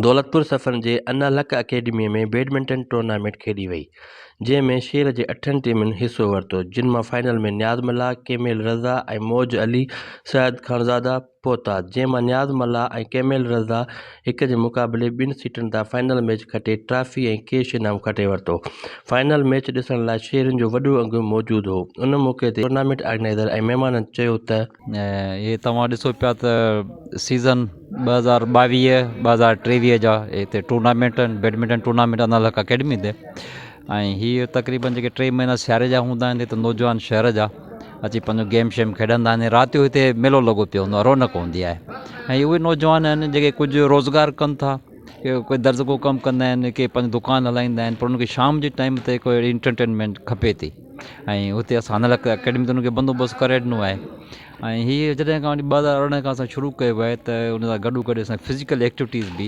دولتپور سفرن جي انا لڪ اڪيڊميء ۾ بيڊمنٽن ٽورنامينٽ کيڏي وئي، جنهن ۾ شھر جي اٺن ٽيمن حصو ورتو، جن مان فائنل ۾ نياز ملاح، ڪيميل رضا ۽ موج علي، سعد خانزاده، پهتا، جنهن مان نياز ملاح ۽ ڪيمل رضا هڪ جي مقابلي ٻن سيٽن تان فائنل ميچ کٽي ٽرافي ۽ ڪيش انعام کٽي ورتو. فائنل ميچ ڏسڻ لاء شهرين جو وڏو انگ موجود هو. ان موقعي تي ٽورنامينٽ آرگنائيزر ۽ مهمانن چيو ته. اهي توهان ڏسو پيا ته سيزن ٻه هزار ٻاويهه ٻه هزار ٽيويهه جا هتي ٽورنامينٽ آهن badminton tournament Anal Haq academy تي ۽ هي تقريبن جيڪي ٽي مهينا سياري جا هوندا آهن هت نوجوان شهر جا اچي پنهنجو گيم شيم کيڏندا آهن رات جو هتي ميلو لڳو پيو هوندو آهي رونق هوندي آهي ۽ اهي نوجوان آهن جيڪي ڪجهه روزگار ڪن ٿا ڪي درزي جو ڪم ڪندا آهن ڪي پنهنجو دڪان هلائيندا آهن پر ان کي شام جي ٽائيم تي ڪو اهڙي انٽرٽينمينٽ کپي ٿي ۽ هتي اسان هن لاء اڪيڊمي تي ان کي بندوبست ڪري ڏنو آهي ۽ هي جڏهن کان وٺي ٻ هزار ارڙهن کان اسان شروع ڪيو آهي ته ان سان گڏو گڏ اسان فزيڪل ايڪٽيوٽيز بي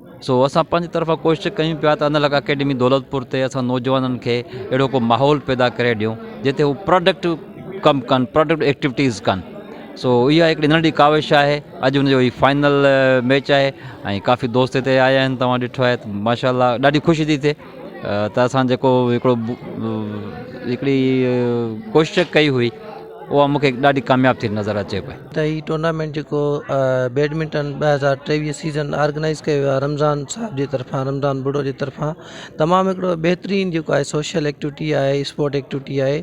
سو اسان پنهنجي طرفان ڪوشش ڪيون پيا ته انل اڪيڊمي دولتپور تي اسان نوجوانن کي اهڙو ڪو ماحول پيدا ڪري ڏيون جتي هو پروڊڪٽو ڪم ڪن پروڊڪٽو ايڪٽوٽيز ڪن سو اها هڪڙي ننڍي ڪاوش آهي اڄ ان جو هي فائنل ميچ آهي ۽ ڪافي دوست هتي آيا آهن تواں ڏٺو آهي ماشاء الله ڏاڍي خوشي ٿي ٿئي ته اسان جيڪو هڪڙو هڪڙي ڪوشش ڪئي هئي اها مونکي ڏاڍي ڪامياب ٿي نظر اچي پئي ته هي ٽورنامينٽ جيڪو بيڊمنٽن ٻه هزار ٽيويهه سيزن آرگنائز ڪيو ويو آهي رمضان صاحب جي طرفان رمضان ٻڙو جي طرفان تمام هڪڙو بهترين جيڪو آهي سوشل ايڪٽوٽي آهي اسپورٽ ايڪٽوٽي آهي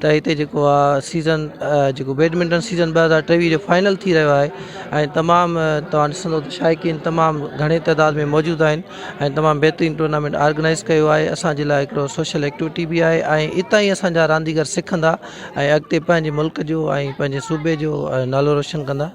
ته هتي جيڪو آ سيزن جيڪو بيڊمنٽن سيزن ٻه هزار ٽيويهه جو فائنل ٿي رهيو آهي ۽ تمام توهان ڏسندو ته شائقين تمام گهڻي تعداد ۾ موجود آهن ۽ تمام بهترين ٽورنامينٽ آرگنائز ڪيو آهي اسانجي لاء هڪڙو سوشل ايڪٽوٽي به آهي ۽ اتان ئي اسانجا رانديگر سکندا ۽ اڳتي پنهنجي ملڪ جو ۽ پنهنجي صوبي جو نالو روشن ڪندا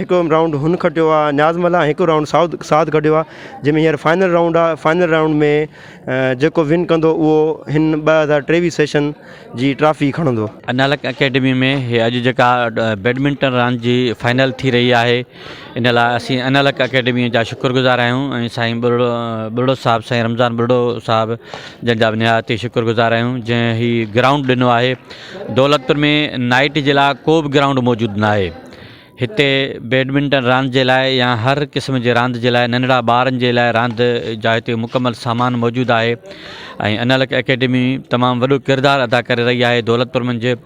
هڪ رائونڊ هن کٽيو آهي نياز ملاح هڪ رائونڊ ساؤد سعد کٽيو آهي جنهن ۾ هينئر فائنل رائونڊ آهي فائنل رائونڊ ۾ جيڪو ون ڪندو اهو هن ٻه هزار ٽيويهه سيشن جي ٽرافي کڻندو. انالڪ اڪيڊمي ۾ هي اڄ جيڪا بيڊمنٽن راند جي فائنل ٿي رهي آهي ان لاء اسين انالڪ اڪيڊمي جا شڪر گذار آهيون ۽ سائين ٻرڙو ٻرڙو صاحب سائين رمضان ٻرڙو صاحب جن جا به نهايت ئي شڪر گذار آهيون جنهن هي گرائونڊ ڏنو آهي دولت پور ۾ نائٽ جي لاء ڪو به گرائونڊ موجود ناهي هتي بيڊمنٽن راند جي لاء يا هر قسم جي راند جي لاء ننڍڙا ٻارن جي لاء راند جا هتي مڪمل سامان موجود آهي ۽ انالڪ اڪيڊمي تمام وڏو ڪردار ادا ڪري رهي آهي دولتپور منجهه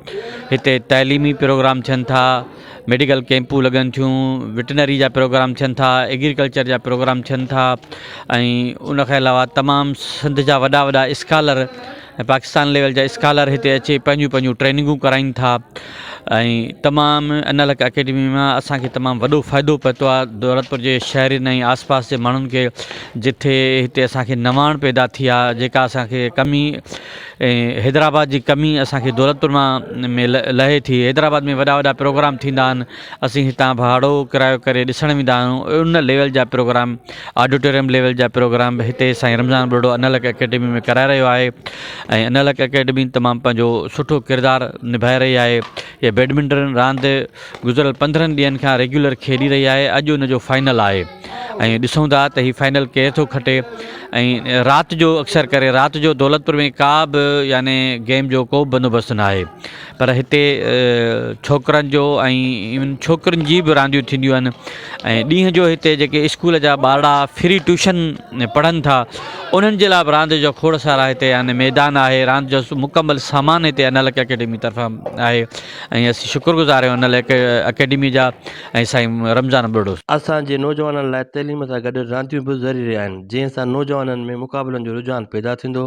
هتي تعليمي پروگرام ٿين ٿا ميڊيڪل ڪيمپون لڳن ٿيون وٽنري جا پروگرام ٿين ٿا ايگريڪلچر جا پروگرام ٿين ٿا ۽ ان کان علاوه تمام سنڌ جا وڏا وڏا اسڪالر پاڪستان ليول جا اسڪالر هتي اچي پنهنجون پنهنجون ٽريننگون ڪرائين ٿا ۽ تمام ان لڪ اڪيڊمي مان اسان کي تمام وڏو فائدو پهتو آهي دولتپور جي شهرين ۽ آس پاس جي ماڻهن کي جتي هتي اسان کي نواڻ پيدا ٿي آهي جيڪا اسان کي ڪمي حيدرآباد جي ڪمي اسان کي دولتپور مان لهي ٿي حيدرآباد ۾ وڏا وڏا پروگرام ٿيندا آهن اسين هتان ڀاڙو ڪرايو ڪري ڏسڻ ويندا آهيون ان ليول جا پروگرام آڊيٽوريم ليول جا پروگرام به هتي سائين رمضان ٻرڙو انالڪ اڪيڊمي ۾ ڪرائي رهيو آهي ۽ انالڪ اڪيڊمي تمام پنهنجو سٺو ڪردار نڀائي رهي آهي هي بيڊمنٽن راند گذريل پندرهن ڏينهن کان ريگيولر کيڏي رهي آهي اڄ ان جو فائنل آهي ۽ ڏسون ٿا ته هي فائنل ڪير ٿو کٽي ۽ رات جو اڪثر ڪري رات جو دولتپور ۾ ڪا به يعنی گيم جو ڪو بندوبست ناهي پر هتي ڇوڪرن جو ۽ ڇوڪرين جي به رانديون ٿينديون آهن ۽ ڏينهن جو هتي جيڪي اسڪول جا ٻارڙا فري ٽيوشن پڙهن ٿا انهن جي لاء به راند جو کوڙ سارا هتي آهن ميدان آهي راند جو مڪمل سامان هتي انل اڪيڊمي طرفان آهي ۽ اسين شڪر گذار آهيون انل اڪيڊمي جا ۽ سائين رمضان ٻرڙو اسان جي نوجوانن لاء تعليم سان گڏ رانديون به ضروري آهن جنهن سان نوجوانن ۾ مقابلن جو رجحان پيدا ٿيندو